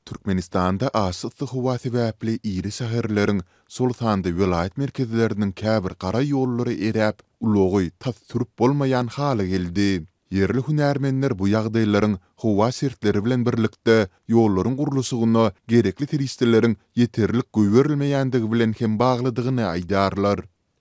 Türkmenistanda aşa yssy howa sebäpli iri şäherleriň, şol sanda welaýat merkezleriniň käbir gara ýollary eräp, ulagy tas sürüp bolmaýan hala geldi. Ýerli hünärmenler bu ýagdaýlaryň howa şertleri bilen birlikde, ýollaryň gurluşygyna gerekli serişdeleriň ýeterlik goýberilmeýändigi bilen hem baglydygyny aýdýarlar.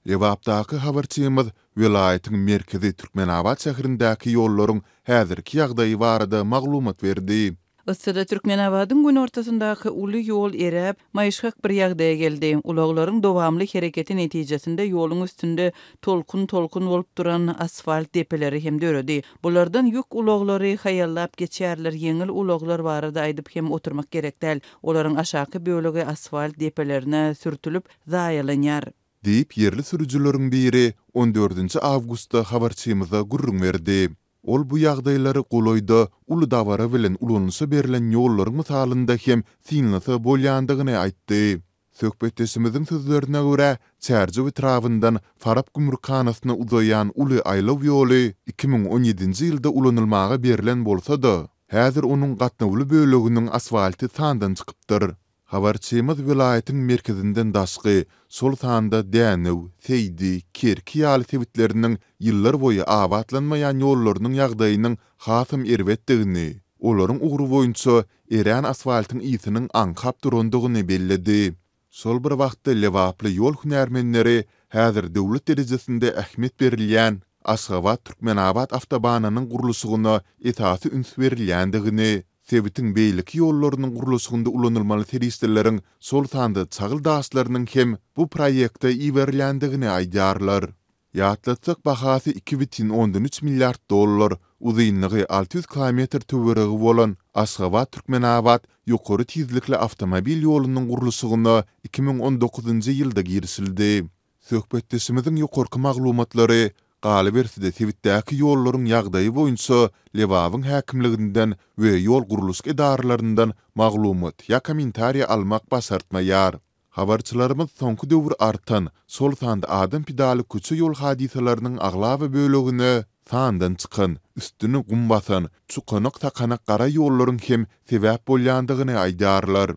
Lebapdaky habarçymyz welaýatyň merkezi Türkmenabat şäherindäki ýollaryň häzirki ýagdaýy barada maglumat berdi. Yssyda Türkmenabadyň günortasyndaky uly ýol eräp, maýyşgak bir ýagdaýa geldi. Ulaglaryň dowamly hereketi netijesinde ýoluň üstünde tolkun-tolkun bolup duran asfalt depeleri hem döredi. Bulardan ýük ulaglary haýallap geçýärler, ýeňil ulaglar barada aýdyp hem oturmak gerek däl. Olaryň aşaky bölegi asfalt depelerine sürtülip, zaýalanýar. Diýip, ýerli sürüjileriň biri on dördünji awgustda habarçymyza gürrüň berdi. Ol bu ýagdaýlary golaýda uly dabara bilen ulanyşa berlen ýollaryň mysalynda hem synlasa bolýandygyny aýtdy. Söhbetdeşimiziň sözlerine görä, Çärjew etrabyndan Farap gümrükhanasyna uzaýan uly aýlaw ýoly iki müň on ýedinji ýylda ulanylmaga berlen bolsa-da, häzir onuň gatnawly böleginiň asfalty sandan çykypdyr. Habarçymyz welaýatyň merkezinden daşky, şol sanda Dänew, Seýdi, Kerki ýaly sebitleriniň ýyllar boýy abatlanmaýan ýollarynyň ýagdaýynyň hasam erbetdigini, olaryň ugry boýunça erän asfaltyň ysynyň aňkap durandygyny belledi. Şol bir wagtda lebaply ýol hünärmenleri häzir döwlet derejesinde ähmiýet berilýän Aşgabat-Türkmenabat awtobanynyň gurluşygyna esasy üns berilýändigini, Sebitiň beýleki ýollarynyň gurluşygynda ulanylmaly serişdeleriň, şol sanda çagyl daşlarynyň hem bu proýekte iberilýändigini aýdýarlar. Ýatlatsak, bahasy iki bütin ondan üç milliard dollar, uzynlygy alty ýüz kilometr töweregi bolan Aşgabat-Türkmenabat ýokary tizlikli awtomobil ýolunyň gurluşygyna iki müň on dokuzynjy ýylda girişildi. Söhbetdeşimiziň ýokarky maglumatlary, galyberse-de, sebitdäki ýollaryň ýagdaýy boýunça Lebabyň häkimliginden we ýol gurluşyk edaralaryndan maglumat ýa kommentariýa almak başartmaýar. Habarçylarymyz soňky döwür artan, şol sanda adam pidaly köçe-ýol hadysalarynyň aglaba bölegine sandan çykan, üstüni gum basan, çukanak-sakanak gara ýollaryň hem sebäp bolýandygyny aýdýarlar.